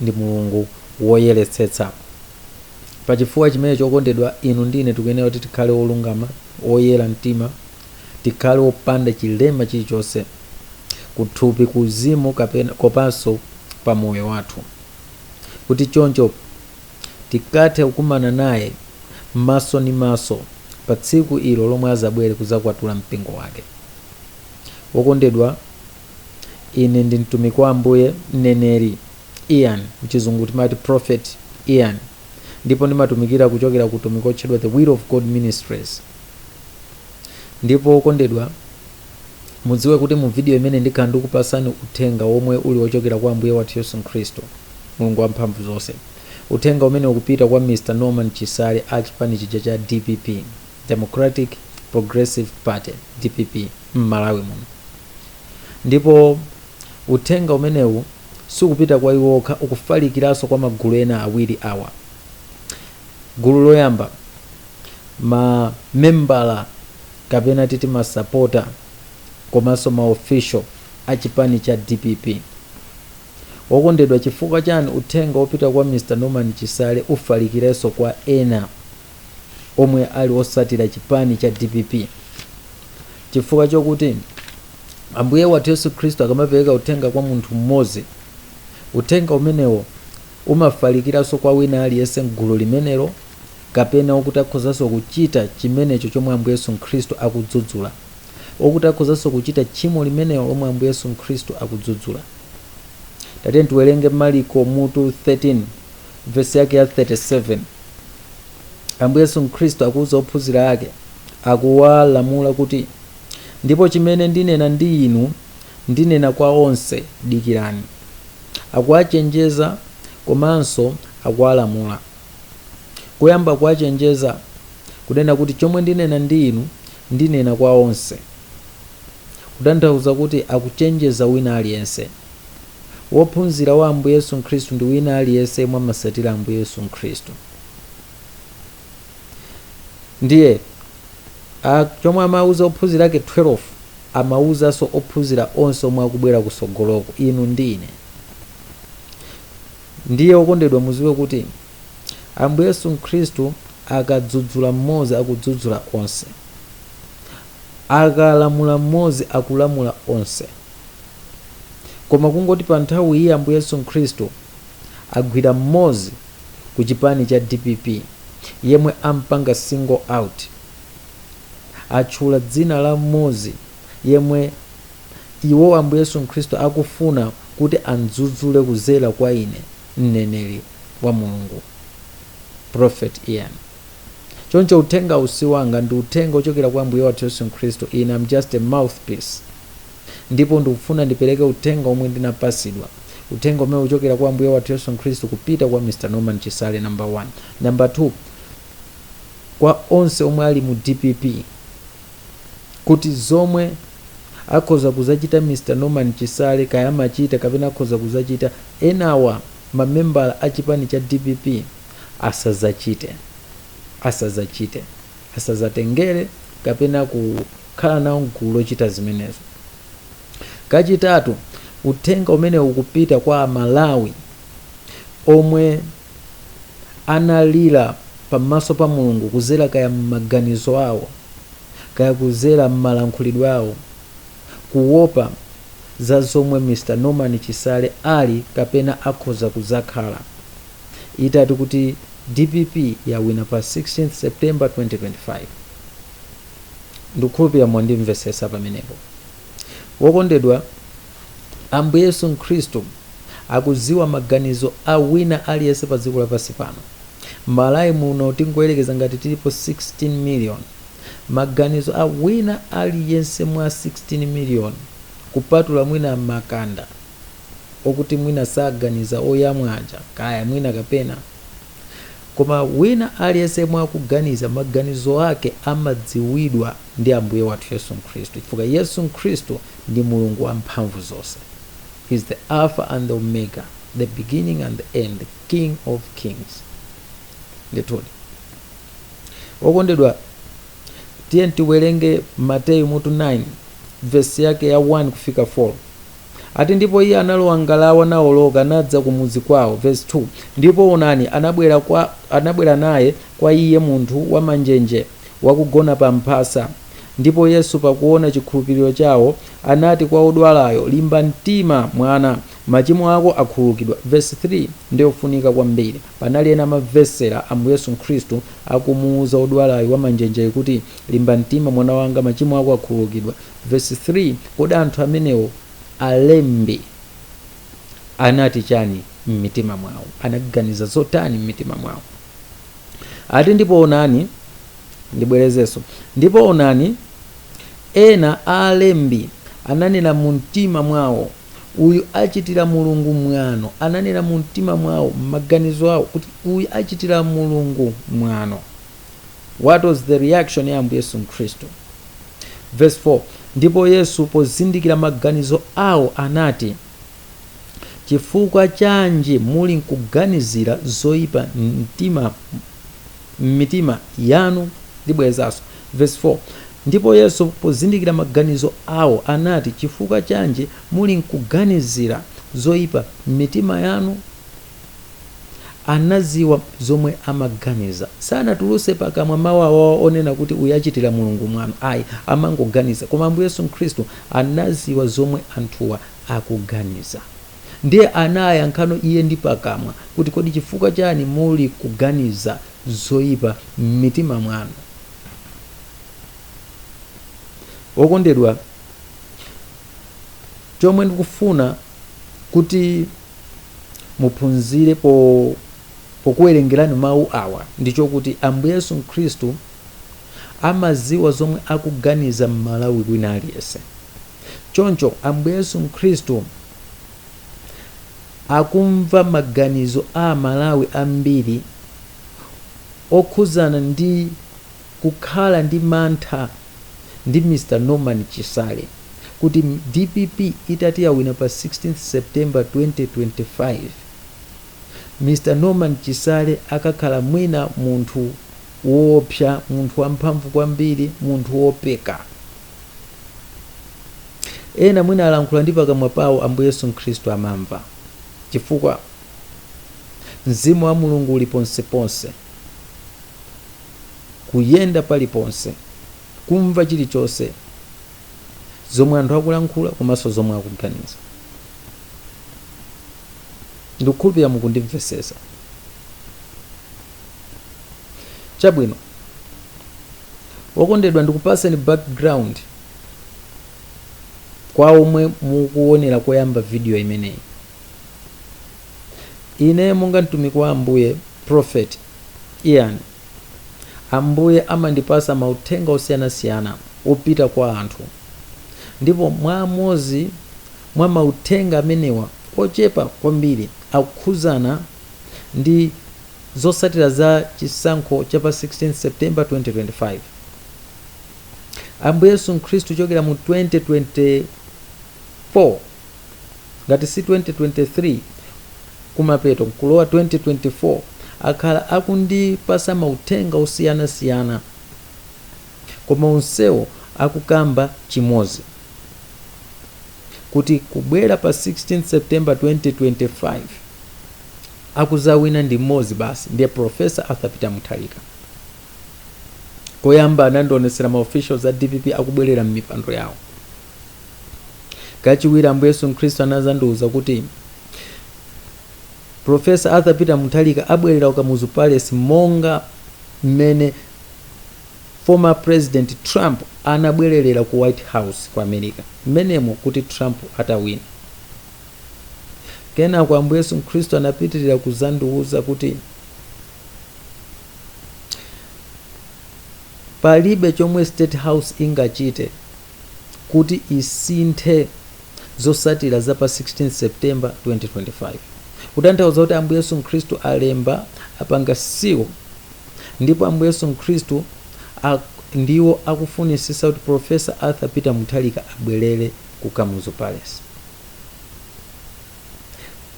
ndi Mulungu woyeretsetsa. Pa chifukwa chimenecho, okondedwa, inu ndi ine tikuyenera kuti tikhale olungama, oyera mtima, tikhale opanda chilema chilichonse kuthupi, kuuzimu kopanso pa moyo wathu, kuti choncho tikathe kukumana naye maso ndi maso pa tsiku ilo lomwe azabwere kuzakwatula mpingo wake. Wokondedwa, Ine ndi mtumiki wa Ambuye, mneneri, Ian, mchizungu timati prophet Ian, ndipo ndimatumikira kuchokera ku utumiki otchedwa The Will of God Ministries. Ndipo okondedwa, mudziwe kuti mu video imeneyi ndikhala ndikupasani uthenga womwe uli ochokera kwa Ambuye wathu Yesu Nkhristu, Mulungu wa mphamvu zonse. Uthenga umenewu ukupita kwa Mr Norman Chisale a chipani chija cha dpp. Democratic Progressive Party, dpp, m'Malawi muno. Ndipo uthenga umenewu sukupita kwa iwo okha, ukufalikiranso kwa magulu ena awiri awa. Gulu loyamba, ma membala kapena titi masapota komanso ma official a chipani cha dpp. Wokondedwa, chifukwa chani uthenga wopita kwa Mr Norman Chisale ufalikirenso kwa ena? omwe ali osatira chipani cha dpp chifukwa chokuti ambuye wathu yesu khristu akamapereka uthenga kwa munthu mmodzi uthenga umenewo umafalikiranso kwa wina aliyense mgulu limenelo kapena okuti akhozanso kuchita chimenecho chomwe ambuye yesu khristu akudzudzula okuti akhozanso kuchita tchimo limenelo lomwe ambuye yesu khristu akudzudzula tatiyeni tiwerenge mariko mutu 13 vesi yake ya 37 Ambuye Yesu Khristu akuuza ophunzira ake, akuwalamula kuti, Ndipo chimene ndinena ndi inu, ndinena kwa onse, dikirani. Akuwachenjeza komanso akuwalamula. Koyamba kuwachenjeza, kunena kuti chomwe ndinena ndi inu, ndinena kwa onse. Kutanthauza kuti akuchenjeza wina aliyense. Wophunzira wa Ambuye Yesu Nkhristu ndi wina aliyense yemwe amasatira Ambuye Yesu Nkhristu. Ndiye, a, chomwe amauza ophunzira ake 12, amauzanso ophunzira onse omwe akubwera kutsogoloko, inu ndi ine. Ndiye, okondedwa, mudziwe kuti Ambuye Yesu Nkhristu akadzudzula mmodzi akudzudzula onse. Akalamula mmodzi akulamula onse. koma kungoti pa nthawi iyi Ambuye Yesu Nkhristu agwira mmodzi ku chipani cha dpp yemwe ampanga single out atchula dzina la mmodzi yemwe Iwo Ambuye Yesu Nkhristu akufuna kuti amdzudzule kuzera kwa ine mneneri wa Mulungu prophet Ian choncho uthengawu si wanga ndi uthenga wochokera kwa Ambuye wathu Yesu Nkhristu ine am just a mouthpiece Ndipo ndikufuna ndipereke uthenga womwe ndinapatsidwa, Uthenga umene ukuchokera kwa Ambuye wathu Yesu Khristu kupita kwa Mr Norman Chisale, number 1. Number 2, kwa onse omwe ali mu dpp, kuti zomwe akhoza kuzachita Mr Norman Chisale, kaya amachita kapena akhoza kuzachita, enawa ma membala a chipani cha dpp asazachite. asadzatengere kapena kukhala nawo m'gulu lochita zimenezo. Kachitatu, uthenga umenewu ukupita kwa Amalawi omwe analira pamaso pa Mulungu kudzera kaya m'maganizo awo kaya kudzera m'malankhulidwe awo kuopa za zomwe Mr. Norman Chisale ali kapena akhoza kudzakhala. itati kuti dpp yawina pa 16th September 2025. Ndikukhulupira mwandimvesesa pamenepo. Wokondedwa, Ambuye Yesu Nkhristu akuziwa maganizo a wina aliyense pa dziko lapansi pano. M'Malawi muno tingoyerekeza ngati tilipo 16 million, maganizo a wina aliyense mwa 16 million kupatula mwina makanda, okuti mwina saganiza oyamwa aja kaya mwina kapena koma wina aliyense yemwe akuganiza maganizo ake amadziwidwa ndi ambuye wathu yesu khristu chifukwa yesu khristu ndi mulungu wamphamvu zonse He's the alpha and the omega the beginning and the end the king of kings ndithudi okondedwa tiye tiwerenge mateyu mutu 9 vesi yake ya 1 kufika 4 Ati ndipo iye analowa m'ngalawa naoloka, nadza ku mudzi kwao. Vesi 2, Ndipo onani, anabwera kwa, anabwera naye kwa Iye munthu wamanjenje, wakugona pamphasa. Ndipo Yesu, pakuona chikhulupiriro chao, anati kwa wodwalayo, Limba mtima, mwana, machimo ako akhululukidwa. Vesi 3 ndi yofunika kwambiri. Panali ena amamvetsera Ambuye Yesu Khristu akumuuza wodwalayu wamanjenjeyu kuti, Limba mtima, mwana wanga, machimo ako akhululukidwa. Vesi 3, Kodi anthu amenewo, alembi, anati chani m'mitima mwawo? Anaganiza zotani m'mitima mwawo? Ati, ndipo onani, ndibwerezenso, ndipo onani, ena a alembi ananena mu mtima mwawo, Uyu achitira Mulungu mwano. Ananena mu mtima mwawo, m'maganizo awo, kuti, Uyu achitira Mulungu mwano. What was the reaction ya Ambuye Yesu Khristu? Verse 4 Ndipo Yesu pozindikira maganizo awo anati, Chifukwa chanji muli nkuganizira zoyipa mtima m'mitima yanu? Ndibwerezanso. Verse 4 Ndipo Yesu pozindikira maganizo awo anati, Chifukwa chanji muli nkuganizira zoyipa m'mitima yanu? Anadziwa zomwe amaganiza. Sanatulutse pakamwa mau awawa onena kuti uyu achitira Mulungu mwano ayi, amangoganiza. Koma Ambuye Yesu Khristu anadziwa zomwe anthuwa akuganiza. Ndiye anayankhano Iye ndi pakamwa kuti kodi chifukwa chani muli kuganiza zoyipa m'mitima mwanu? Okondedwa, chomwe ndikufuna. kuti muphunzire pokuwerengerani mawu awa ndi chokuti Ambuye Yesu Khristu amaziwa zomwe akuganiza Mmalawi wina aliyense choncho Ambuye Yesu Khristu akumva maganizo a Amalawi ambiri okhuzana ndi Kukhala ndi mantha ndi Mr Norman Chisale kuti DPP itati yawina pa 16th September 2025 Mr Norman Chisale akakhala mwina munthu woopsa munthu wamphamvu kwambiri munthu woopedwa ena mwina alankhula ndi pakamwa pawo Ambuye Yesu Khristu amamva chifukwa Mzimu wa Mulungu uli ponseponse. kuyenda paliponse kumva chilichonse zomwe anthu akulankhula komanso zomwe akuganiza ndikukhulupirira mukundimvesesa chabwino okondedwa ndikupaseni background kwa omwe mukuonera koyamba video imeneyi Ine monga mtumiki wa Ambuye, Prophet Ian, Ambuye amandipasa mauthenga osiyana siyana opita kwa anthu ndipo mwa amodzi mwa mauthenga amenewa ochepa kwambiri akukhudzana ndi zotsatira za chisankho cha pa 16 September 2025. Ambuye Yesu Mkhristu kuchokera mu 2024 ngati si 2023 kumapeto nkulowa 2024 akhala akundipasa mauthenga osiyana siyana koma onsewo akukamba chimozi kuti kubwera pa 16 September 2025 akuzawina ndi mmozi basi ndiye Prof. Arthur Peter Mutharika. Koyamba anandionetsera ma officials a dpp akubwelera mmipando yawo. Kachiwiri Ambuye Yesu Khristu anazandiuza kuti Professor Arthur Peter Mutharika abwerera ku Kamuzu Palace monga mmene former President Trump anabwererera ku White House ku America mmenemo kuti Trump atawina. Kenako Ambuye Yesu Khristu anapitirira kuzandiuza kuti palibe chomwe State House ingachite kuti isinthe zotsatira za pa 16 September 2025. Kutanthauza kuti Ambuye Yesu Khristu alemba, apanga seal, ndipo Ambuye Yesu Khristu a, ndiwo akufunisisa kuti Prof. Arthur Peter Mutharika abwelere ku Kamuzu Palace.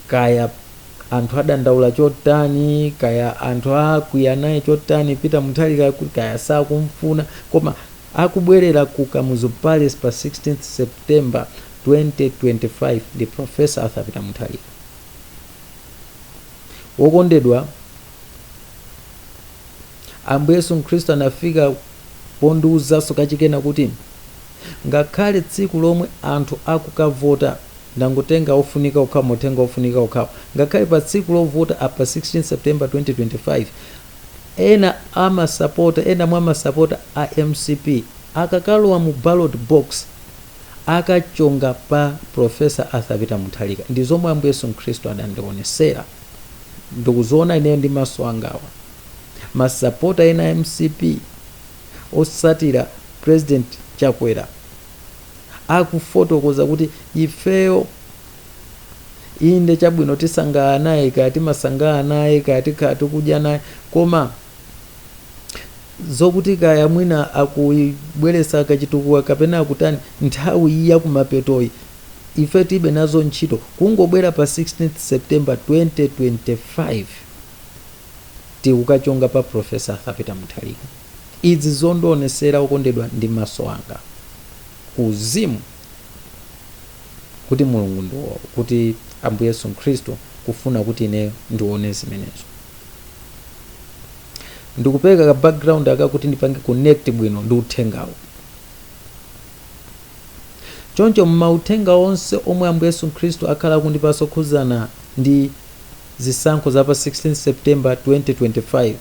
kaya anthu adandaula chotani kaya anthu akwiya naye chotani peter muthalika kuti kaya sakumfuna koma akubwerera ku kamuzu palace pa 16 september 2025 ndi professor arthur peter muthalika wokondedwa Ambuye Yesu Mkhristu anafika pondiuzanso kachikenanso kuti, Ngakhale tsiku lomwe anthu akukavota, ndangotenga ofunika okhawo, mauthenga ofunika okhawo, ngakhale pa tsiku lovota la pa 16 September 2025, ena mwa masapota a mcp akakalowa mu ballot box, akachonga pa Prof. Arthur Peter Mutharika. Ndi zomwe Ambuye Yesu Mkhristu adandionesera. Ndikuziona ineyo ndi maso angawa. masapota ena a mcp otsatira president chakwera akufotokoza kuti ifeyo inde chabwino tisangalala naye kaya timasangalala naye kaya tikhala tikudya naye koma zokuti kaya mwina akubweretsa kachitukuko kapena akutani nthawi iyi yakumapetoyi ife tilibe nazo ntchito kungobwera pa 16 september 2025 tikukachonga pa professor arthur peter mutharika izi zondionesera okondedwa ndi mmaso anga ku uzimu kuti mulungu ndi wo- kuti ambuye yesu khristu kufuna kuti ineyo ndione zimenezo ndikupereka ka background aka kuti ndipange connect bwino ndi uthengawo choncho m'mauthenga onse omwe ambuye yesu khristu akhala akundipatsa okhudzana ndi zisankho za pa 16 September 2025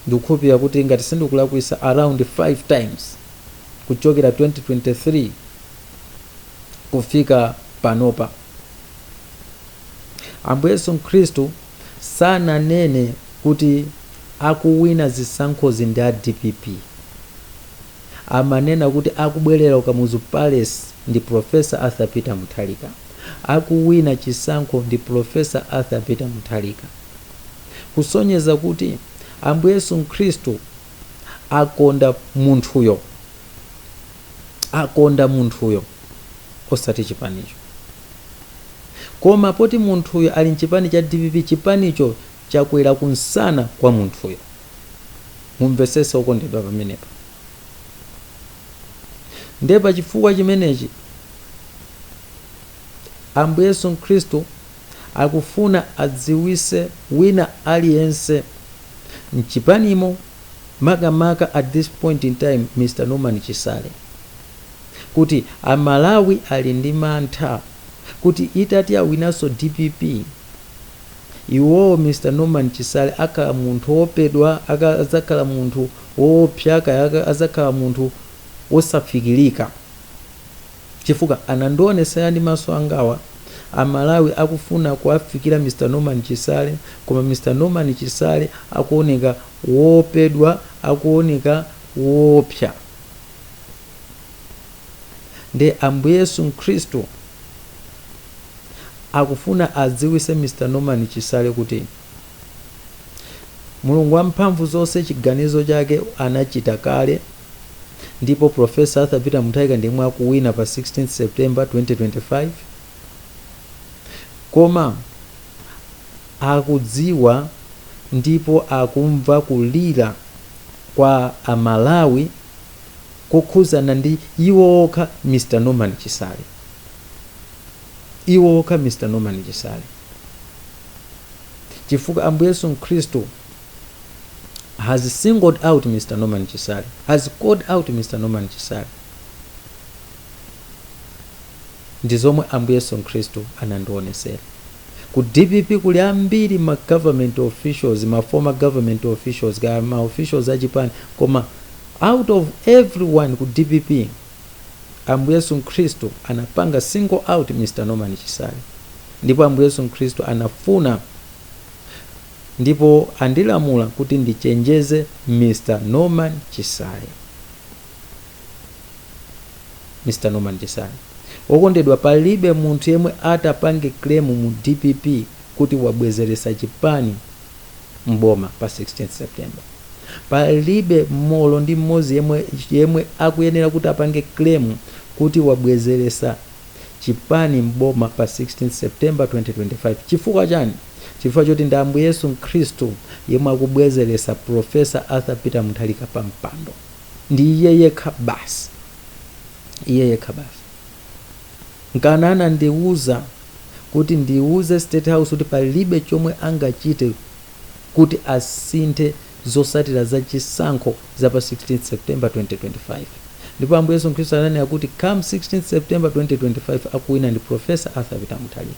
ndikukhulupilira kuti ngati sindikulakwisa around 5 times kuchokera 2023 kufika panopa. Ambuye Yesu Mkhristu sananene kuti akuwina zisankhozi ndi a dpp. Amanena kuti akubwelera ku Kamuzu Palace ndi Prof. Arthur Peter Mutharika. akuwina chisankho ndi Professor Arthur Peter Mutharika kusonyeza kuti Ambuye Yesu Mkhristu akonda munthuyo, akonda munthuyo osati chipanicho. Koma poti munthuyo ali mchipani cha dpp, chipanicho chakwera kumsana kwa munthuyo. Mumvetsetse okondedwa pamenepa. Ndiye pa chifukwa chimenechi, Ambuye Yesu Khristu akufuna adziwise wina aliyense mchipanimo makamaka at this point in time Mr Norman Chisale kuti a Malawi ali ndi mantha kuti itati yawinanso dpp, Iwo Mr Norman Chisale akhala munthu owopedwa kaya adzakhala munthu owopsa kaya adzakhala munthu osafikilika chifukwa anandionesela ndi maso angawa a Malawi akufuna kuwafikila Mr Norman Chisale koma Mr Norman Chisale akuoneka woopedwa akuoneka woopsa nde Ambuye Yesu Mkhristu akufuna adziwise Mr Norman Chisale kuti Mulungu wamphamvu zonse chiganizo chake anachita kale ndipo Prof Arthur Peter Mutharika ndiyemwe akuwina pa 16th September 2025 koma akudziwa ndipo akumva kulira kwa a Malawi kokhuzana ndi iwo okha Mr Norman Chisale iwo okha Mr Norman Chisale chifukwa Ambuye Yesu Mkhristu has singled out Mr Norman Chisale has called out Mr Norman Chisale ndizomwe ambuye yesu nkhristu anandionesera. Ku dpp kuli ambiri ma government officials, ma former government officials kaya ma officials achipani koma out of everyone ku dpp ambuye yesu nkhristu anapanga single out Mr Norman Chisale ndipo ambuye yesu nkhristu anafuna ndipo andilamula kuti ndichenjeze Mr Norman Chisale. Mr Norman Chisale wokondedwa palibe munthu yemwe atapange claim mu dpp kuti wabwezelesa chipani m'boma pa 16th September palibe olo ndi m'modzi yemwe yemwe akuyenera kuti apange claim kuti wabwezelesa chipani m'boma pa 16th September 2025 chifukwa chani chifukwa choti ndi Ambuye Yesu Mkhristu yemwe akubwezelesa Prof. Arthur Peter Mutharika pa mpando ndi iye yekha basi iye yekha basi nkana anandiwuza kuti ndiwuze state house kuti palibe chomwe angachite kuti asinthe zosatira za chisankho za pa 16 september 2025 ndipo ambuye yesu khristu ananena kuti come 16 september 2025 akuwina ndi professor arthur peter mutharika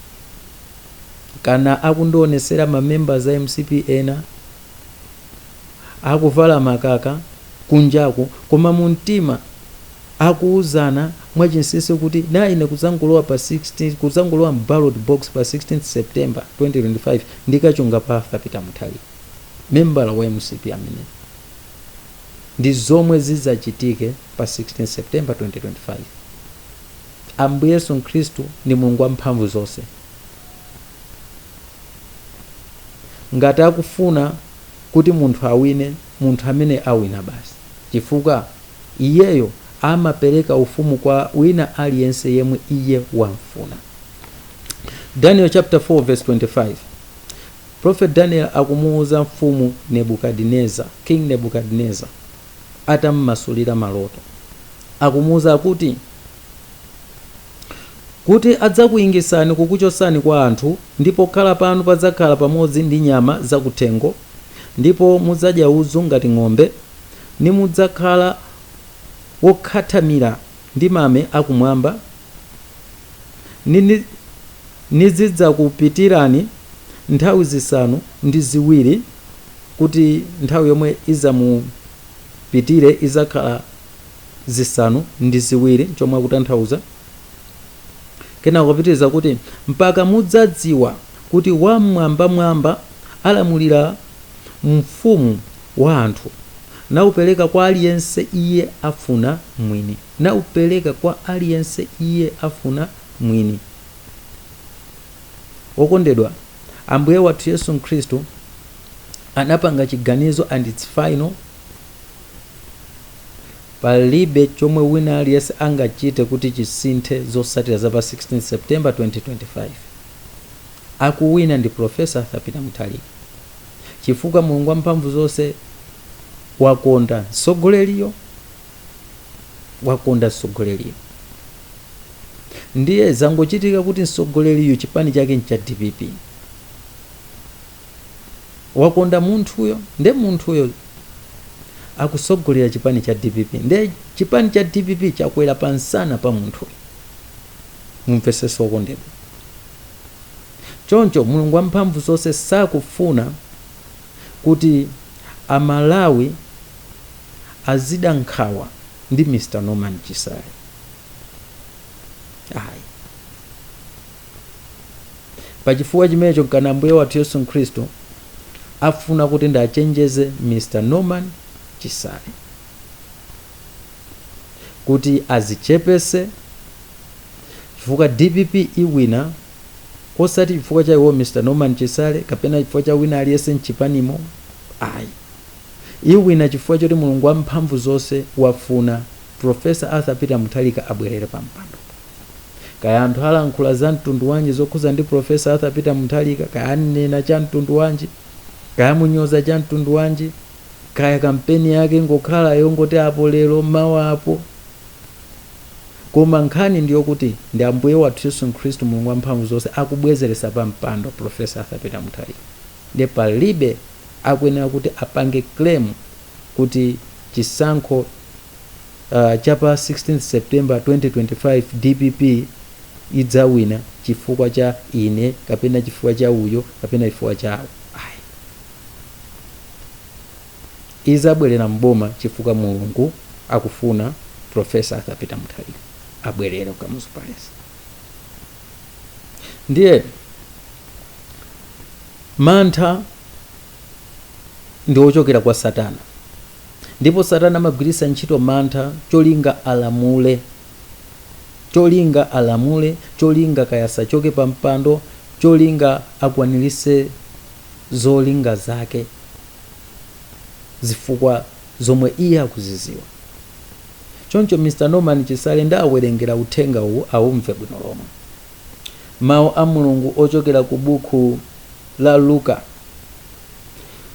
nkana akundionesera ma members a mcp ena Akuvala makaka kunjaku, koma mu mtima akuuzana mwachinsinsi kuti na ine kudzangolowa pa 16 kudzangolowa m'ballot box pa 16 September 2025 ndikachonga pa Arthur Peter Mutharika, membala wa mcp ameneyo. Ndi zomwe zidzachitike pa 16 September 2025. Ambuye Yesu Khristu ndi Mulungu Wamphamvuzonse. ngati akufuna kuti munthu awine munthu amene'yo awina basi chifukwa iyeyo amapereka ufumu kwa wina aliyense yemwe iye wamfuna Daniel chapter 4 verse 25 Prophet Daniel akumuuza mfumu Nebukadineza King Nebukadineza atammasulira maloto akumuuza kuti kuti adzakuingitsani kukuchotsani kwa anthu, ndipo pokhala panu padzakhala pamodzi ndi nyama za kuthengo, ndipo mudzadya udzu ngati ng'ombe, nimudzakhala wokhathamira ndi mame a kumwamba, nizidzakupitirani nthawi zisanu ndi ziwiri, kuti nthawi yomwe idzamupitire idzakhala. zisanu ndi ziwiri chomwe akutanthauza kenako kupitiriza kuti mpaka mudzadziwa kuti wam'mwambamwamba alamulira m'ufumu wa anthu naupereka kwa aliyense iye afuna mwini wokondedwa ambuye wathu yesu khristu anapanga chiganizo and it's final Palibe chomwe wina aliyense angachite kuti chisinthe zotsatira za pa 16 September 2025. Akuwina ndi Prof. Arthur Peter Mutharika chifukwa Mulungu wamphamvu zonse wakonda mtsogoleriyo. Ndiye zangochitika kuti mtsogoleriyo chipani chake ncha dpp. wakonda munthuyo nde munthuyo akutsogolera chipani cha dpp nde chipani cha dpp chakwera pa nsana pa munthuyo mumvetsetse wokondedwa choncho mulungu wamphamvu zonse sakufuna kuti amalawi azida nkhawa ndi mr norman chisale ayi pachifukwa chimenecho nchifukwa chake ambuye wathu yesu khristu afuna kuti ndiwachenjeze mr norman chisale kuti adzichepetse chifukwa dpp iwina osati chifukwa cha iwo mr norman chisale kapena chifukwa cha wina aliyense mchipanimo ayi iwina chifukwa choti mulungu wamphamvu zonse wafuna profesa arthur peter mutharika abwerere pampando Kaya anthu alankhula za mtundu wanji zokhuza ndi Prof. Arthur Peter Mutharika, kaya anena cha mtundu wanji, kaya amunyoza cha mtundu wanji, kaya kampeni yake ingokhala yongoti apo lero mawa apo, koma nkhani ndi yokuti ndi Ambuye wathu Yesu Khristu Mulungu wa mphamvu zonse akubwezeretsa pa mpando Prof. Arthur Peter Mutharika. Ndiye palibe akuyenera kuti apange claim kuti chisankho. uh, pa 16 september 2025 dpp siidzawina chifukwa cha ine kapena chifukwa cha uyo kapena chifukwa cha awo ayi izabwerera mboma chifukwa mulungu akufuna profesa arthur peter mutharika abwerere ku kamuzu palace ndiye mantha ndi ochokera kwa satana Ndipo satana amagwiritsa ntchito mantha cholinga alamule. Cholinga kaya asachoke pa mpando, cholinga akwaniritse zolinga zake, zifukwa zomwe iye akuziziwa. Choncho Mr Norman Chisale ndawawerengera uthenga uwu awumve bwino lomwe. Mau a Mulungu ochokera ku bukhu la Luka.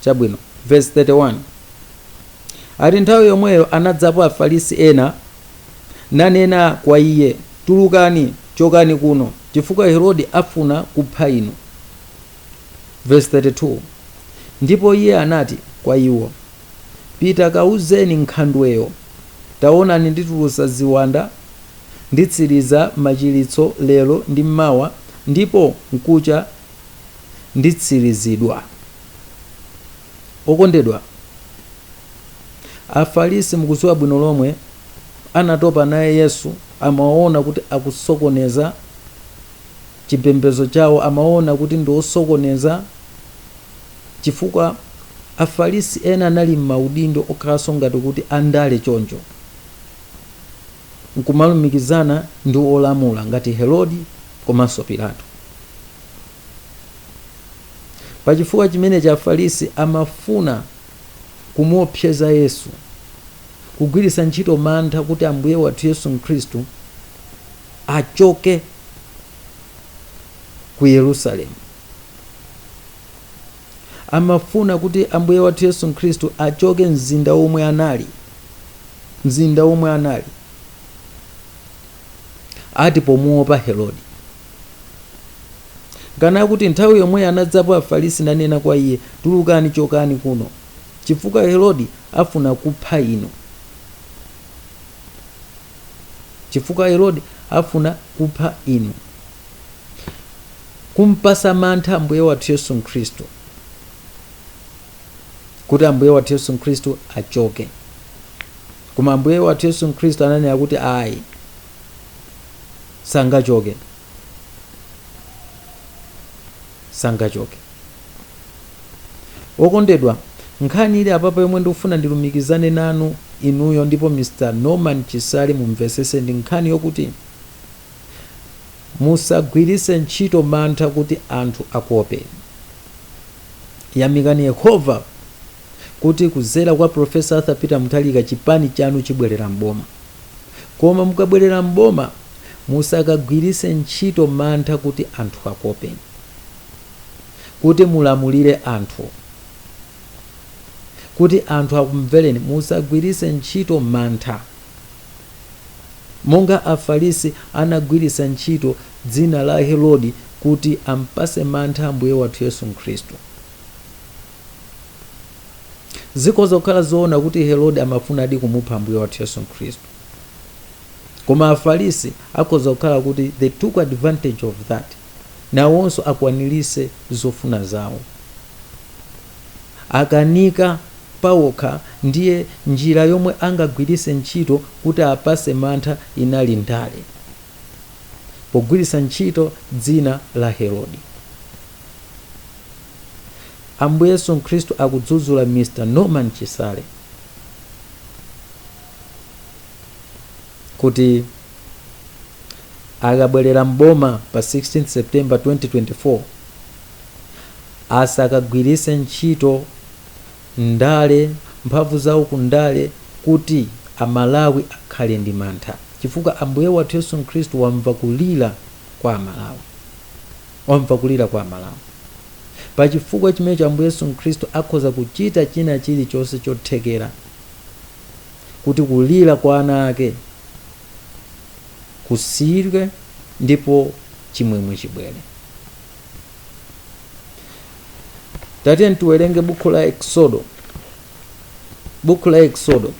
Chapter 13, vesi 31 ati, Nthawi yomweyo anadzapo Afarisi ena, nanena kwa iye, Tulukani, chokani kuno, chifukwa Herodi afuna kupha inu. Vesi 32 Ndipo iye anati kwa iwo, Pita kauzeni nkhandweyo, Tawonani nditulusa ziwanda nditsiriza machiritso lero ndi mawa, ndipo mkucha nditsirizidwa. Okondedwa, Afarisi mukuziwa bwino lomwe anatopa naye Yesu amamuona kuti akusokoneza chipembezo chawo amamuona kuti ndi osokoneza chifukwa Afarisi ena anali mmaudindo okhalanso ngati kuti andale choncho nkumalumikizana ndi olamula ngati Herodi komanso Pilato. Pa chifukwa chimenechi, Afarisi amafuna kumuopseza Yesu, kugwiritsa ntchito mantha kuti Ambuye wathu Yesu Khristu achoke ku Yerusalemu. Amafuna kuti Ambuye wathu Yesu Khristu achoke mzinda womwe anali ati pomuopa Herodi. Kani akuti nthawi yomweyo anadzapo Afarisi nanena kwa iye, Tulukani, chokani kuno, chifukwa Herodi afuna kupha inu. Kumpasa mantha Ambuye wathu Yesu Khristu kuti Ambuye wathu Yesu Khristu achoke. Koma Ambuye wathu Yesu Khristu ananena kuti ayi, sangachoke sangachoke okondedwa nkhani ili apapa yomwe ndikufuna ndilumikizane nanu inuyo ndipo mr norman chisale mumvesese ndi nkhani yokuti musagwiritse ntchito mantha kuti anthu akuopeni yamikani yehova kuti kuzera kwa Prof Arthur Peter Mutharika chipani chanu chibwelera m'boma. Koma mukabwelera m'boma musakagwirise ntchito mantha kuti anthu akuopeni. Kuti mulamulire anthu. Kuti anthu akumveleni musagwirise ntchito mantha. Monga Afalisi anagwirisa ntchito dzina la Herodi kuti ampase mantha Ambuye wathu Yesu Mkhristu. zikhoza kukhala zoona kuti herode amafunadi kumupha ambuye wathu yesu khristu koma afarisi akhoza kukhala kuti they took advantage of that nawonso akwanirise zofuna zawo akanika pawokha ndiye njira yomwe angagwirise ntchito kuti apase mantha inali ndale pogwirisa ntchito dzina la herode Ambuye Yesu Mkhristu akudzudzula Mr Norman Chisale kuti akabwerera m'boma pa 16 September 2024 asakagwiritse ntchito ndale, mphamvu zawo ku ndale kuti Amalawi akhale ndi mantha chifukwa Ambuye wathu Yesu Mkhristu wamva kulira kwa Amalawi. wamva kulira kwa Amalawi. Pa chifukwa chimenecho Ambuye Yesu Mkhristu akhoza kuchita china chilichonse chothekera kuti kulira kwa ana ake kusiyidwe ndipo chimwemwe chibwere. Tatiyeni tiwerenge bukhu la Eksodo. Bukhu la Eksodo.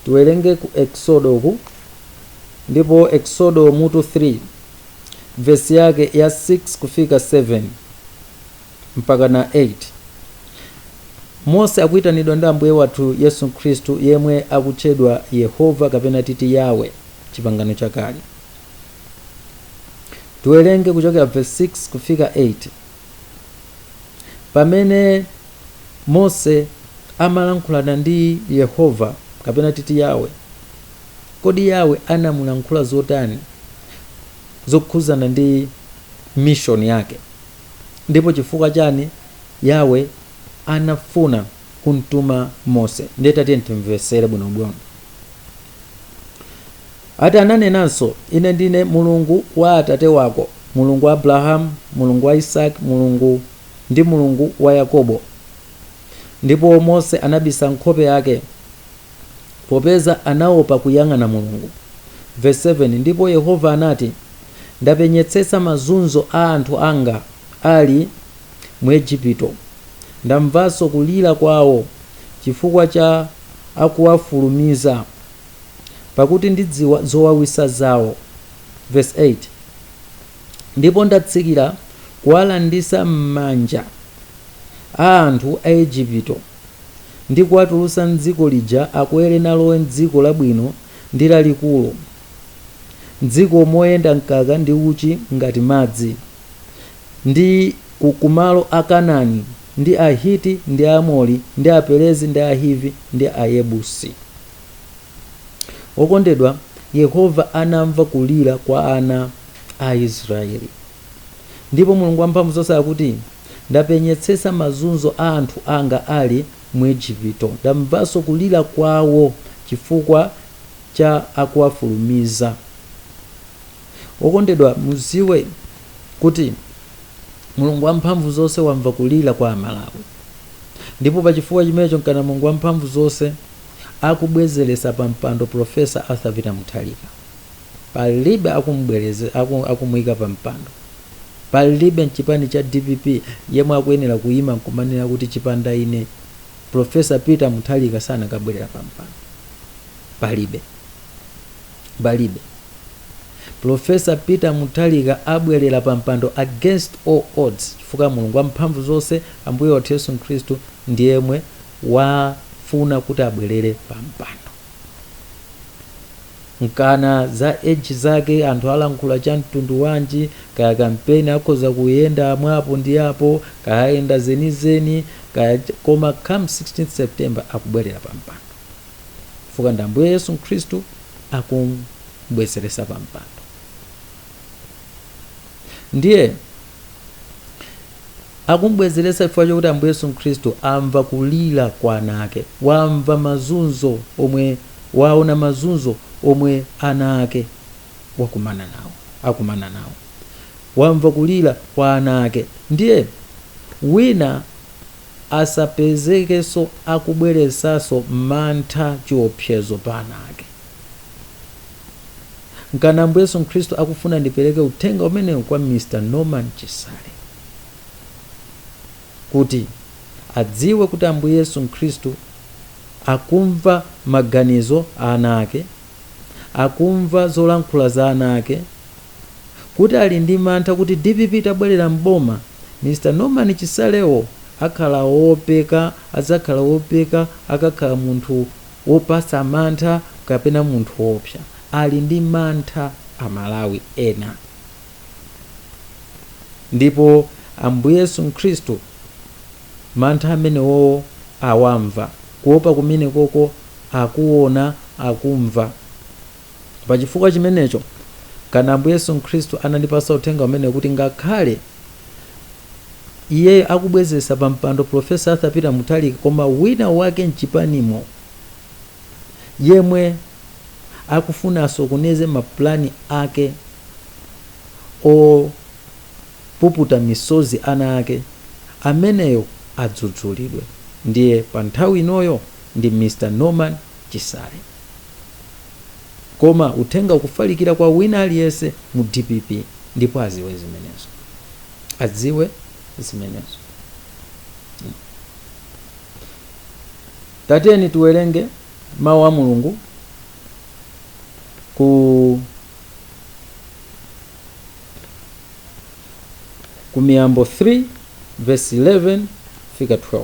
Tiwerenge ku Eksodo uku ndipo Eksodo mutu 3. vesi yake ya 6 kufika 7 mpaka na 8 mose akuitanidwa ndi ambuye wathu yesu khristu yemwe akutchedwa yehova kapena titi yawe chipangano chakale tiwerenge kuchokera vesi 6 kufika 8 pamene mose amalankhulana ndi yehova kapena titi yawe Kodi Yahweh anamulankhula zotani zokhuzana ndi mission yake? Ndipo chifukwa chani Yahweh anafuna kumtuma Mose? Ndiye tatiyeni timvesere bwinobwino. Ati ananenanso, ine ndine Mulungu wa atate wako, Mulungu wa Abrahamu, Mulungu wa Isaki, Mulungu ndi Mulungu wa Yakobo. Ndipo Mose anabisa nkhope yake. popeza anaopa kuyang'ana Mulungu. Vesi 7, Ndipo Yehova anati, Ndapenyetsetsa mazunzo a anthu anga ali mu Ejipito, ndamvanso kulira kwawo chifukwa cha akuwafulumiza, pakuti ndidziwa zowawitsa zawo. Vesi 8, Ndipo ndatsikira kuwalanditsa m'manja a anthu a Ejipito. ndi kuwatulutsa m'dziko lija akwere nalowe m'dziko labwino ndi lalikulu, m'dziko moyenda mkaka ndi uchi ngati madzi, ndi ku, ku malo a Kanani, ndi Ahiti, ndi Aamori, ndi Aperezi, ndi Ahivi, ndi Ayebusi. Wokondedwa Yehova anamva kulira kwa ana a Israeli. Ndipo Mulungu Wamphamvuzonse akuti, Ndapenyetsetsa mazunzo a anthu anga ali mu Ejipito, ndamvanso kulira kwawo chifukwa cha akuwafulumiza. Okondedwa, mudziwe kuti Mulungu Wamphamvuzonse wamva kulira kwa Amalawi, ndipo pa chifukwa chimenecho nkana Mulungu Wamphamvuzonse akubwezeretsa pampando Professor Arthur Peter Mutharika. palibe akumubwereza aku- akumuika pa mpando palibe mchipani cha dpp yemwe akuyenera kuima nkumanena kuti chipanda ine profesa peter muthalika sanakabwerera pa mpando palibe palibe profesa peter muthalika abwerera pa mpando against all odds chifukwa mulungu wamphamvu zonse ambuye wathu yesu khristu ndi yemwe wafuna kuti abwerere pa mpando Nkana za age zake anthu alankhula cha mtundu wanji kaya kampeni akhoza kuyenda mwa apo ndi apo kaya ayenda zenizeni kaya koma come 16th September akubwelera pa mpando chifukwa ndi Ambuye Yesu Nkhristu akum'bwezelesa pa mpando ndiye Akum'bwezeresa chifukwa chakuti Ambuye Yesu Khristu amva kulira kwa ana ake, wamva mazunzo omwe, waona mazunzo omwe ana ake wakumana nawo, akumana nawo. Wamva kulira kwa ana ake. Ndiye wina asapezekenso akubweresanso mantha, chiopsezo pa ana ake. nkani Ambuye Yesu Khristu akufuna ndipereke uthenga umenewu kwa Mr. Norman Chisale kuti adziwe kuti Ambuye Yesu Khristu akumva maganizo a ana ake, akumva zolankhula za ana ake, kuti ali ndi mantha kuti dpp itabwerera m'boma Mr. Norman Chisalewo akhala woopeka, adzakhala woopeka akakhala munthu wopasa mantha kapena munthu woopsa. Ali ndi mantha Amalawi ena ndipo Ambuye Yesu Khristu mantha amenewowo awamva. Kuopa kumenekoko akuona, akumva. Pa chifukwa chimenecho, nkani Ambuye Yesu Khristu anandipasa uthenga umenewu kuti ngakhale Iyeyo akubwezesa pa mpando Professor Arthur Peter Mutharika koma wina wake mchipanimo yemwe akufuna asokoneze ma plan ake opuputa misozi ana ake, ameneyo adzudzulidwe. Ndiye pa nthawi inoyo ndi Mr Norman Chisale. koma uthenga ukufalikira kwa wina aliyense mu dpp ndipo aziwe zimenezo adziwe zimenezo tiyeni tiwerenge mawu a mulungu ku ku miyambo 3 verse 11 fika 12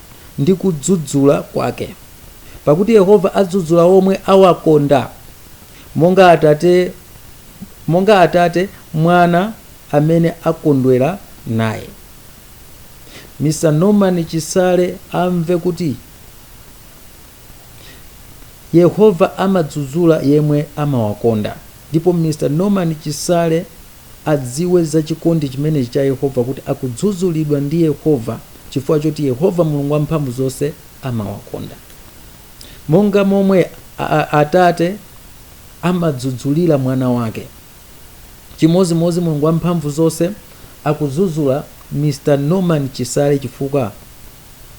ndi kudzudzula kwake. Pakuti Yehova adzudzula omwe awakonda, monga atate, monga atate mwana amene akondwera naye. Mr Norman Chisale amve kuti. Yehova amadzudzula yemwe amawakonda ndipo Mr Norman Chisale adziwe za chikondi chimenechi cha Yehova kuti akudzudzulidwa ndi Yehova chifukwa choti Yehova Mulungu wamphamvu zonse amawakonda monga momwe Atate amadzudzulira mwana wake chimodzimodzi Mulungu wamphamvu zonse akudzudzula Mr Norman Chisale chifukwa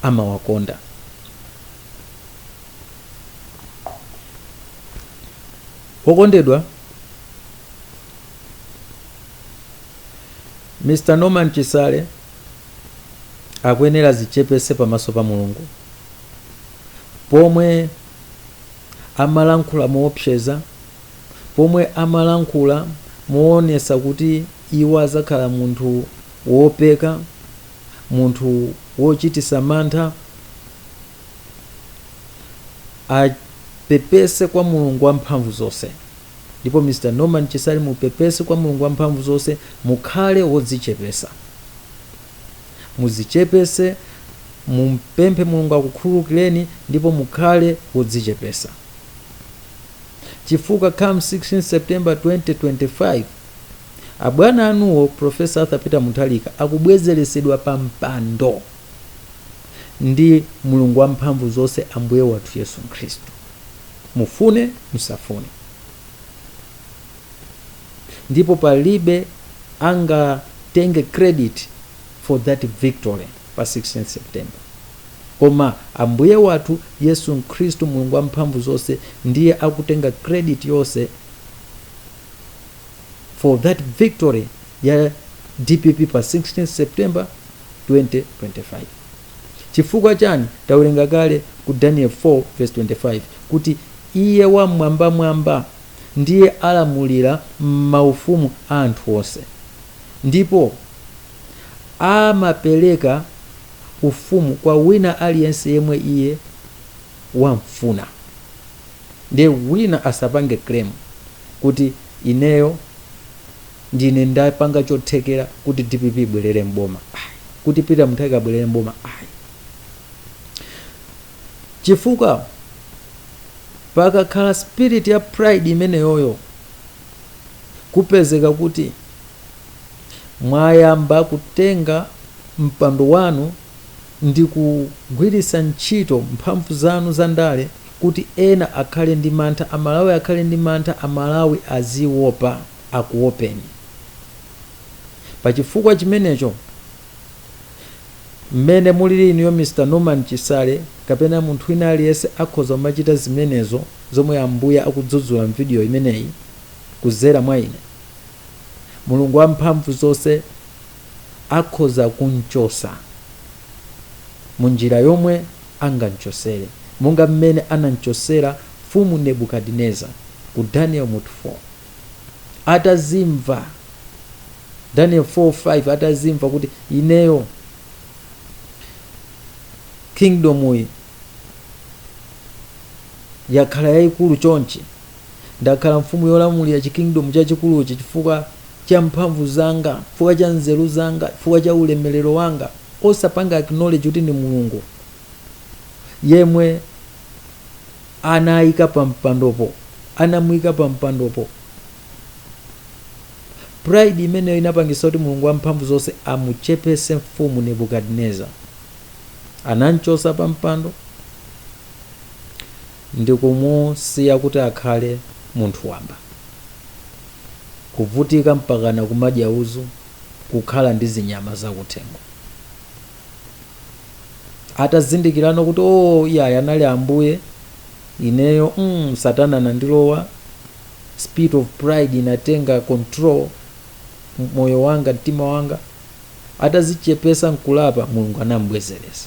amawakonda. Wokondedwa Mr. Norman Chisale akuyenera azichepese pamaso pa Mulungu pomwe amalankhula moopseza, pomwe amalankhula moonesa kuti iwo azakhala munthu wopeka, munthu wochitisa mantha apepese kwa mulungu wa mphamvu zonse ndipo mr norman chisale mupepese kwa mulungu wa mphamvu zonse mukhale wodzichepesa mudzichepese mumpemphe mulungu akukhululukireni ndipo mukhale wodzichepesa chifukwa come 16 september 2025 Abwana anuwo Prof. Arthur Peter Mutharika akubwezeresedwa pa mpando ndi Mulungu wa mphamvu zonse Ambuye wathu Yesu Khristu. Mufune musafune. Ndipo palibe angatenge credit for that victory pa 16 September. Koma Ambuye wathu Yesu Khristu Mulungu wa mphamvu zonse ndiye akutenga credit yonse. for that victory ya dpp pa 16 september 2025 chifukwa chani tawerenga kale ku daniel 4 verse 25 kuti iye wamwambamwamba ndiye alamulira m'maufumu a anthu onse ndipo amapereka ufumu kwa wina aliyense yemwe iye wamfuna ndiye wina asapange claim kuti ineyo ndine ndapanga chothekera kuti dpp ibwerere m'boma ayi kuti peter mutharika abwerere m'boma ayi chifukwa pakakhala spirit ya pride imeneyoyo kupezeka kuti mwayamba kutenga mpando wanu ndi kugwiritsa ntchito mphamvu zanu za ndale kuti ena akhale ndi mantha amalawi akhale ndi mantha amalawi aziwopa akuwopeni pa chifukwa chimenecho mmene mulili inuyo Mr Norman Chisale kapena munthu wina aliyense akhoza kumachita zimenezo zomwe ambuye akudzudzula mvidiyo imeneyi kuzera mwa ine mulungu wamphamvu zonse akhoza kumchosa munjira yomwe angamchosere monga mmene anamchosera mfumu Nebukadineza ku Daniel mutu 4. Atazimva, Daniel 4, 5, atazimva kuti ineyo kingdomyi yakhala yayikulu chonchi, Ndakhala mfumu yolamulira chikingdomu chachikuluchi chifukwa cha mphamvu zanga, chifukwa cha nzeru zanga, chifukwa cha ulemelero wanga. Osapanga acknowledge kuti ndi Mulungu yemwe anayika pa mpandopo, anamuyika pa mpandopo. Pride imeneyo inapangitsa kuti Mulungu wamphamvu zonse amuchepetse mfumu Nebuchadnezzar. Anamchotsa pa mpando. ndikumusiya kuti akhale munthu wamba, kuvutika mpakana kumadya uzu, kukhala ndi zinyama zakuthengo. Atazindikilano kuti oo oh, iyayi anali ambuye ineyo mm, satana anandilowa, spirit of pride inatenga control moyo wanga, mtima wanga. Atazichepesa nkulapa, Mulungu anambwezeresa.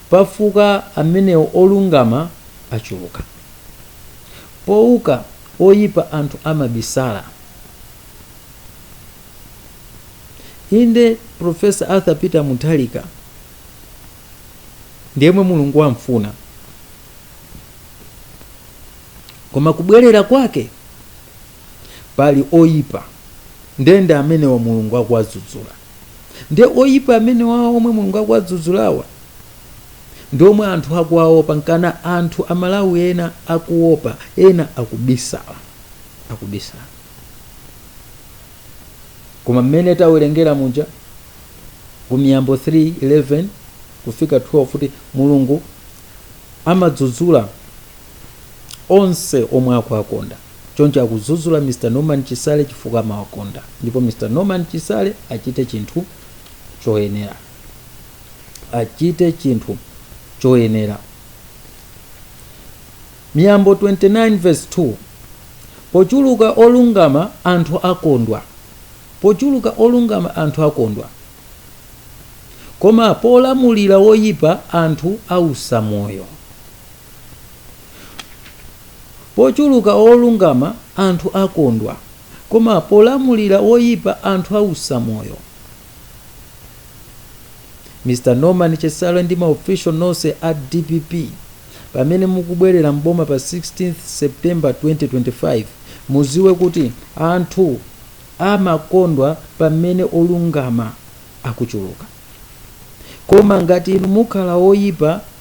Pakufa amenewo olungama achuluka, pouka oipa anthu amabisala. Inde, Prof. Arthur Peter Mutharika ndi yemwe Mulungu wamfuna, koma kubwerera kwake pali oipa, ndiye ndi amenewa Mulungu akuwadzudzula. nde oyipa amenewawa omwe mulungu akuwadzudzulawa ndi omwe anthu akuwaopa nkana anthu amalawi ena akuopa ena akubisala akubisala koma mmene tawerengera muja ku miyambo 3:11 kufika 12 kuti mulungu amadzudzula onse omwe akuwakonda choncho akudzudzula mr norman chisale chifukwa amawakonda ndipo mr norman chisale achite chinthu choyenera achite chinthu choyenera miyambo 29 verse 2 pochuluka olungama anthu akondwa pochuluka olungama anthu akondwa koma polamulira woyipa anthu ausa moyo Pocuruka olungama anthu akondwa, Koma polamulira oipa anthu ausa moyo. Mr Norman Chisale ndi ma official nonse a dpp pamene mukubwerera m'boma pa 16th September 2025 muziwe kuti anthu amakondwa pamene olungama akuchuluka. koma ngati inu mukhala oyipa ngati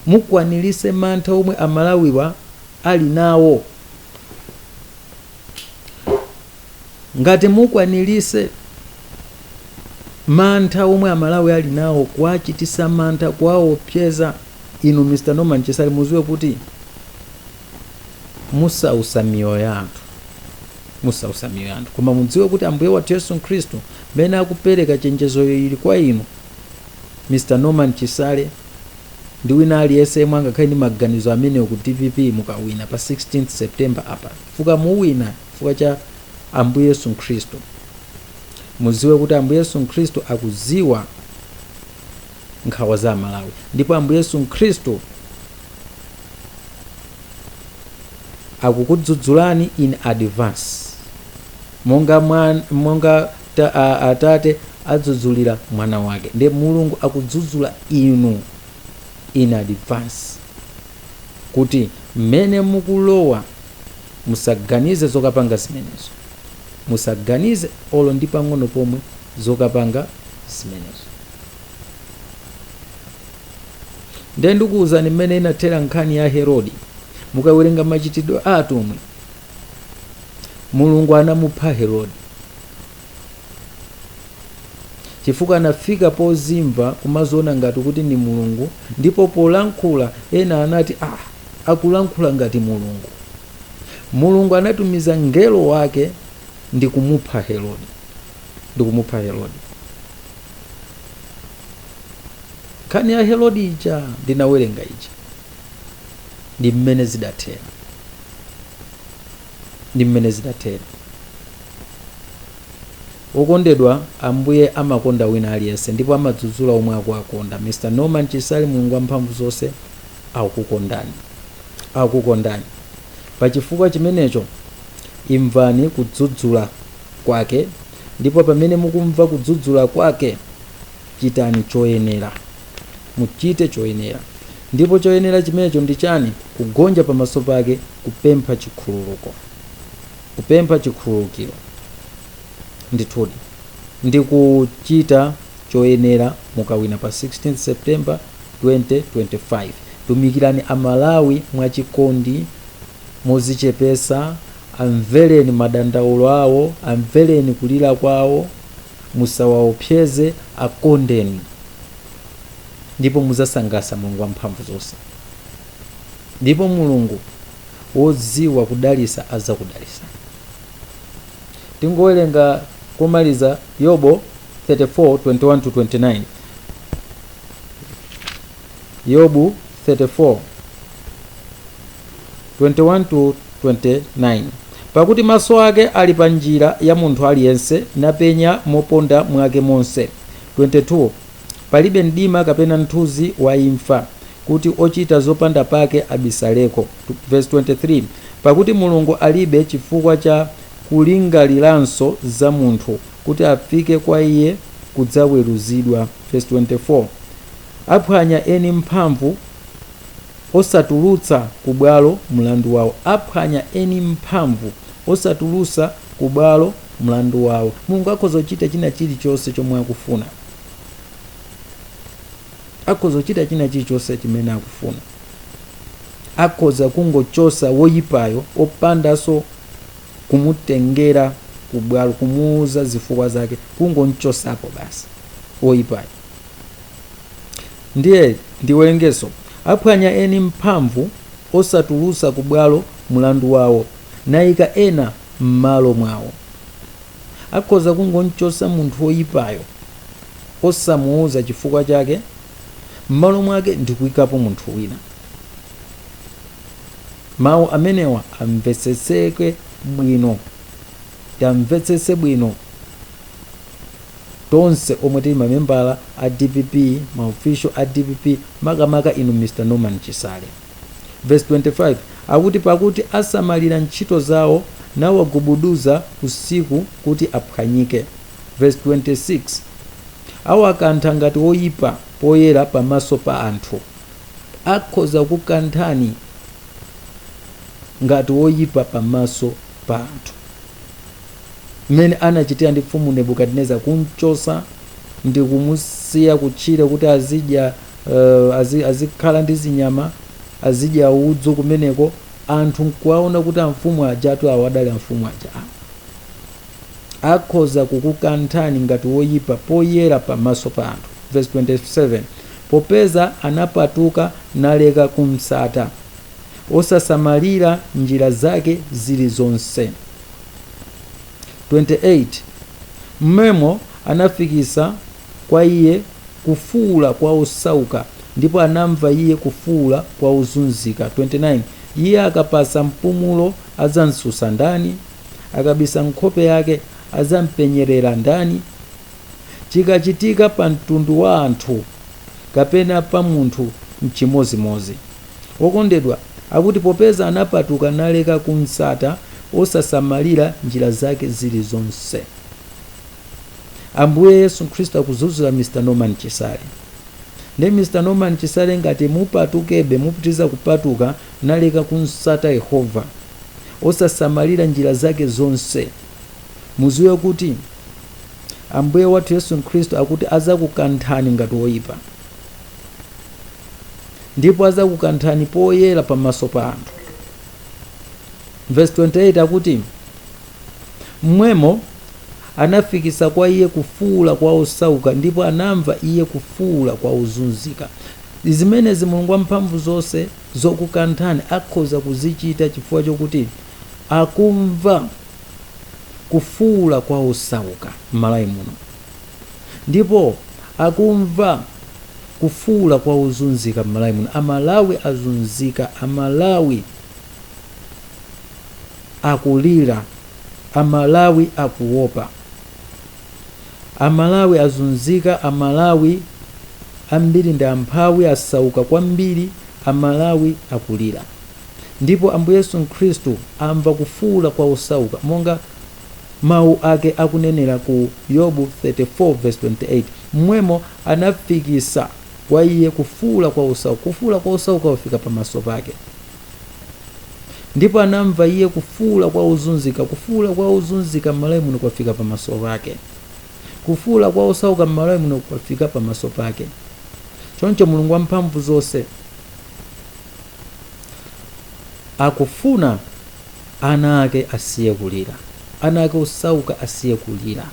mukwanilise mantha omwe amalawiwa ali nawo ngati mukwanilise mantha omwe amalawi ali nawo kuwachitisa mantha kuwaopseza inu Mr Norman Chisale muziwe kuti musausa miyoyo ya anthu musausa miyoyo ya anthu koma mudziwe kuti ambuye wathu yesu khristu mmene akupereka chenjezoyo ili kwa inu mr norman chisale ndi wina aliyense yemwe angakhale ndi maganizo amenewo ku dpp mukawina pa 16 september apa chifukwa muwina chifukwa cha ambuye yesu khristu mudziwe kuti ambuye yesu khristu akudziwa nkhawa za amalawi ndipo ambuye yesu khristu akukudzudzulani in advance monga, mwan, monga ta, a, atate adzudzulira mwana wake nde mulungu akudzudzula inu in advance kuti mmene mukulowa musaganize zokapanga zimenezo musaganize olo ndi pang'ono pomwe zokapanga zimenezo ndiye ndikuwuzani mmene inathera nkhani ya herodi mukawerenga machitidwe a atumwi mulungu anamupha herodi chifukwa anafika pozimva kumadziona ngati kuti ndi mulungu ndipo polankhula ena anati ah akulankhula ngati mulungu mulungu anatumiza mngelo wake ndi kumupha herodi ndi kumupha herodi nkhani ya herodi ija ndinawerenga ija ndi mmene zidathera ndi mmene zidathera okondedwa ambuye amakonda wina aliyense ndipo amadzudzula omwe akuwakonda mr norman chisale mulungu wa mphamvu zonse akukondani akukondani pa chifukwa chimenecho imvani kudzudzula kwake, ndipo pamene mukumva kudzudzula kwake, chitani choyenera. Muchite choyenera. Ndipo choyenera chimenecho ndi chani? Kugonja pamaso pake, kupempha chikhululuko, kupempha chikhululukiro, ndithudi, ndi kuchita choyenera mukawina pa 16 September 2025. Tumikirani a Malawi mwachikondi. modzichepetsa, amvereni madandaulo awo, amvereni kulira kwawo, musawaopseze, akondeni, ndipo mudzasangalatsa Mulungu Wamphamvuzonse. Ndipo Mulungu wodziwa kudalitsa adzakudalitsani. Tingowerenga komaliza Yobo 34:21-29. Yobu 34 21 to 29 pakuti maso ake ali pa njira ya munthu aliyense napenya moponda mwake monse 22 palibe mdima kapena mthunzi wa imfa kuti ochita zopanda pake abisaleko verse 23 pakuti mulungu alibe chifukwa cha kulingaliranso za munthu kuti afike kwa iye kudzaweruzidwa verse 24 Aphwanya eni mphamvu osatulutsa ku bwalo mlandu wawo. Aphwanya eni mphamvu osatulusa ku bwalo mlandu wawo. Mulungu akhoza kuchita china chilichonse chomwe akufuna. Akhoza kuchita china chilichonse chimene akufuna. Akhoza kungochosa woyipayo opandaso kumutengera ku bwalo kumuuza zifukwa zake, kungomchosapo basi woyipayo. Ndiye ndiwerengeso, Aphwanya eni mphamvu osatulusa ku bwalo mulandu wawo naika ena mmalo mwawo. Akhoza kungomchosa munthu oyipayo osamuuza chifukwa chake mmalo mwake ndikuikapo munthu wina. Mawu amenewa tiwamvetsetse bwino. tonse omwe tili ma membala a dpp ma official a dpp makamaka inu Mr Norman Chisale. Verse 25 akuti pakuti asamalira ntchito zawo nawagubuduza usiku kuti aphwanyike. Verse 26 awakantha ngati woyipa poyera pamaso pa anthu. Akhoza kukukanthani ngati woyipa pamaso pa anthu. mmene anachitira ndi Mfumu Nebukadinezara, kum'chotsa ndi kumusiya kutchire kuti azidya uh, azi, azikhala ndi zinyama azidya udzu kumeneko, anthu nkuwaona kuti amfumu ajatu awo adali amfumu aja akhoza kukukanthani ngati woyipa poyera pamaso pa anthu. Verse 27 popeza anapatuka naleka kumsata osasamalira njira zake zili zonse. 28 M'mwemo anafikitsa kwa Iye kufuula kwa osauka, ndipo anamva Iye kufuula kwa ozunzika. 29 Iye akapatsa mpumulo adzamtsutsa ndani? Akabisa nkhope yake adzampenyerera ndani? Chikachitika pa mtundu wa anthu kapena pa munthu nchimodzimodzi. Wokondedwa akuti, Popeza anapatuka naleka kumtsata, osasamalira njira zake zirizonse. Ambuye Yesu Khristu akuzuzula Mr. Norman Chisale. Ndiye Mr. Norman Chisale ngati mupatukebe, mupitiriza kupatuka naleka kumtsata Yehova, osasamalira njira zake zonse, muziwe kuti Ambuye wathu Yesu Khristu akuti azakukanthani ngati woyipa. ndipo adzakukanthani poyera pamaso pa anthu vesi 28 akuti mmwemo anafikisa kwa iye kufuula kwa osauka ndipo anamva iye kufuula kwa ozunzika zimenezi mulungu wamphamvu zonse zokukanthani akhoza kuzichita chifukwa chokuti akumva kufuula kwa osauka m'malawi muno ndipo akumva kufuula kwa ozunzika mmalawi muno amalawi azunzika amalawi akulira amalawi akuopa amalawi azunzika amalawi ambiri ndi amphawi asauka kwambiri amalawi akulira ndipo ambuye yesu khristu amva kufuula kwa osauka monga Mawu ake akunenera ku Yobu 34 28, M'mwemo anafikisa kwa iye kufuula kwa osauka, kufuula kwa osauka kwafika pamaso pake. Ndipo anamva iye kufuula kwa ozunzika, kufuula kwa ozunzika m'malawi muno kwafika pamaso pake. Kufuula kwa osauka m'malawi muno kwafika pamaso pake. Choncho Mulungu wamphamvu zonse akufuna Ana ake asiye kulira. Ana ake osauka asiye kulira.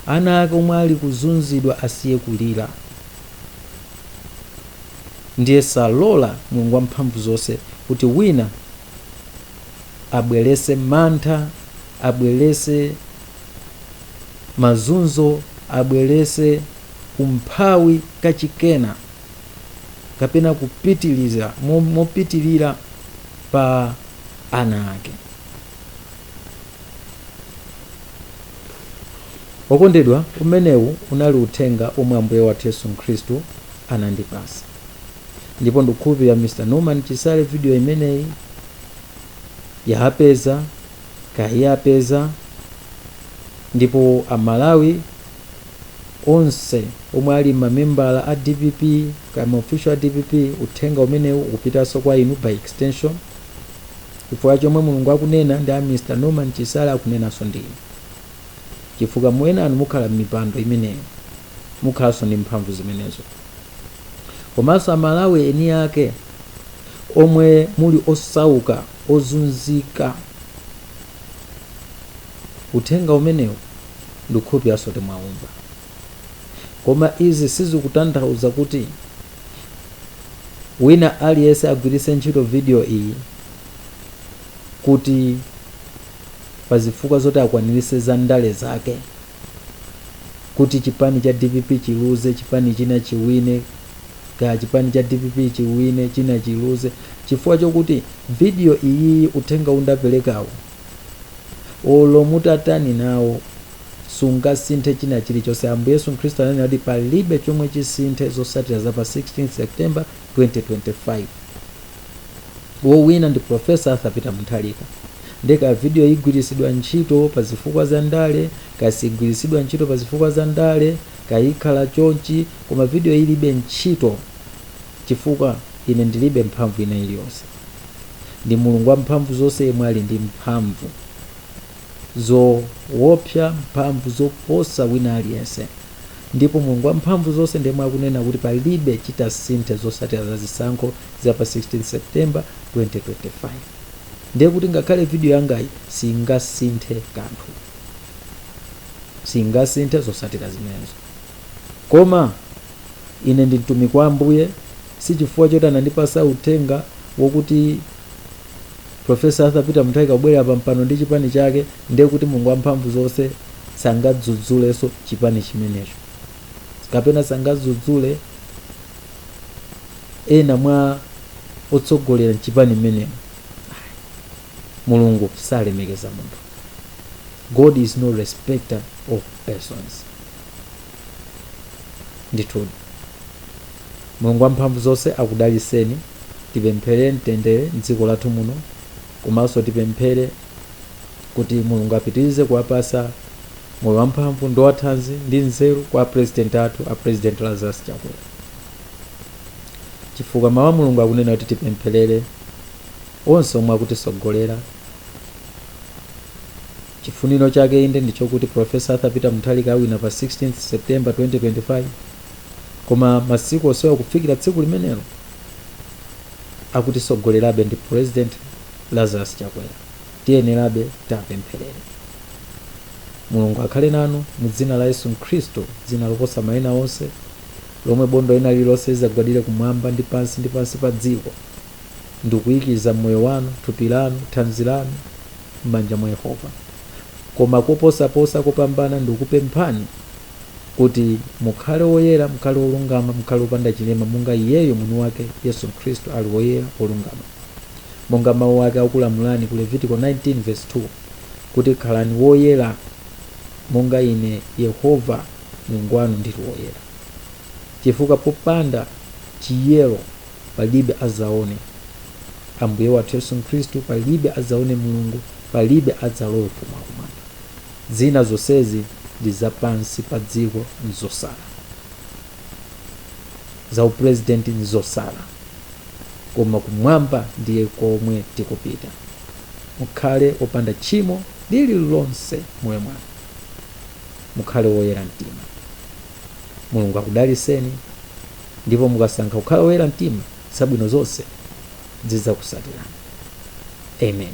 Ana ake omwe ali kuzunzidwa asiye kulira. Ndiye sallola Mulungu Wamphamvu zonse kuti wina abwerese mantha, abwerese mazunzo, abwerese umphawi kachikena. kapena kupitiliza mo- mopitilira pa ana ake okondedwa umenewu unali uthenga omwe ambuye wathu yesu khristu anandipasa ndipo ndikukhulupirira mr norman chisale video imeneyi yakupezani kaya iwapeza ndipo amalawi onse omwe ali mamembala a dpp kaya maofficial a dpp uthenga umenewu ukupitaso kwa inu by extension chifukwa chomwe mulungu akunena ndi a mr norman chisale akunenaso ndi inu chifukwa inu enanu mukhala mmipando imeneyo mukhalaso ndi mphamvu zimenezo komanso amalawi eni ake omwe muli osauka ozunzika uthenga umenewu ndikukhulupiriraso kuti mwaumva koma izi sizikutanthauza kuti wina aliyese agwirise ntchito video iyi kuti pazifukwa zoti akwanilise za ndale zake kuti chipani cha dpp chiluze chipani china chiwine kaya chipani cha dpp chiwine china chiluze chifukwa chokuti video iyiyi uthenga ndapelekawo olo mutatani nawo sungasinthe china chilichonse ambuye yesu khristu ananena kuti palibe chomwe chisinthe zosatira za pa 16 september 2025 wowina ndi profesa arthur peter mutharika nde kaya video igwiritsidwa ntchito pa zifukwa za ndale kaya siigwiritsidwa ntchito pa zifukwa za ndale kaya ikhala chonchi koma video ilibe ntchito Chifukwa, ine ndiribe mphamvu ina iliyonse. Ndi Mulungu Wamphamvuzonse yemwe ali ndi mphamvu zoopsa, mphamvu zoposa wina aliyense. Ndipo Mulungu Wamphamvuzonse ndi yemwe akunena kuti palibe chitasinthe zosatira za zisankho za pa 16 September, 2025. Ndiye kuti ngakhale video yangayi singasinthe kanthu. Singasinthe zosatira zimenezo. Koma. Ine ndi mtumiki wa Ambuye, si chifukwa choti anandipasa uthenga wokuti Professor Arthur Peter Mutharika kubwerera pampano ndi chipani chake ndiye kuti Mulungu wamphamvu zonse sangadzudzulenso chipani chimenecho kapena sangadzudzule ena mwa otsogolera mchipani mmenemo. Mulungu salemekeza munthu. God is no respecter of persons. ndithudi mulungu wamphamvu zonse akudaliseni tipempherere mtendere mdziko lathu muno komanso tipemphere kuti mulungu apitirize kuwapasa moyo wamphamvu ndi wathanzi ndi nzeru kwa a president athu a president lazarus chakwera chifukwa mawu a mulungu akunena kuti tipempherere onse omwe akutitsogolera Chifuniro chake inde ndichokuti Prof Arthur Peter Mutharika awina pa 16th September 2025 koma masiku onsewa kufikira tsiku limenelo akutitsogolerabe ndi President Lazarus Chakwera tiyenerabe tiwapempherere Mulungu akhale nanu mu dzina la Yesu Khristu dzina loposa maina onse lomwe bondo lina lililonse lizagwadire kumwamba ndi pansi ndi pansi pa dziko ndikuikiza moyo wanu thupi lanu thanzi lanu m'manja mwa Yehova. Koma koposaposa kopambana ndikupemphani kuti mukhale woyera, mukhale wolungama, mukhale wopanda chilema, monga iyeyo mwini wake Yesu Khristu ali woyera, wolungama. Monga mawu ake akulamulani ku Levitiko 19 verse 2 kuti khalani woyera monga ine Yehova Mulungu wanu ndili woyera. Chifukwa popanda chiyero palibe adzaone ambuye wathu yesu khristu palibe adzaone mulungu palibe adzalowe ufumu wakumwamba zina zonsezi ndi zapansi pa dziko nzosala za upurezidenti nzosala koma kumwamba ndiye komwe tikupita mukhale opanda tchimo lililonse mmoyo mwanu mukhale woyera mtima mulungu akudaliseni Ndipo mukasankha kukhala oyera mtima, zabwino zonse zidzakutsatirani. Amen.